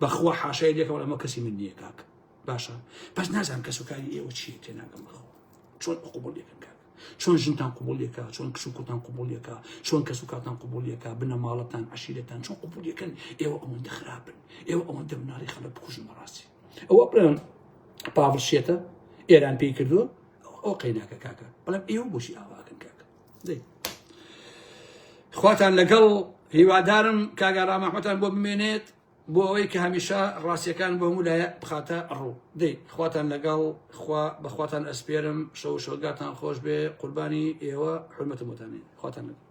بەخوا حاشای لێکەوە ئەمە کەسی من نییە کاک باشە بەس نازان کەس و کاری ئێوە چیە تێ ناگەم بەخۆ چۆن قوبڵ لێکن کاک چۆن ژنتان قوبڵیەکە چۆن کچ و کوتان قوبڵیەکە چۆن کەس و کاتان قوبڵیەکە بنە ماڵەتان عشیرەتان چۆن قوبڵیەکەن ئێوە ئەوەندە خراپن ئێوە ئەوەندە مناڵی خەڵک بکوژن بەڕاستی ئەوە بڵێن پاڤڵ شێتە ئێران پێی کردووە ئەو قەیناکە کاکە بەڵام ئێوە بۆشی ئاواکن کاکە خواتان لەگەڵ هیوادارم کاگا ڕامەحمەتان بۆ بمێنێت بۆ ئەوەی کە هەمیشە ڕاستیەکان بۆ هەموو لایە بخاتە ڕوو دەی خواتان لەگەڵ خوا بەخواتان ئەسپێرم شەو شۆگاتان خۆش بێ قوربانی ئێوە حرمەتمتانی خواتان لەگەڵ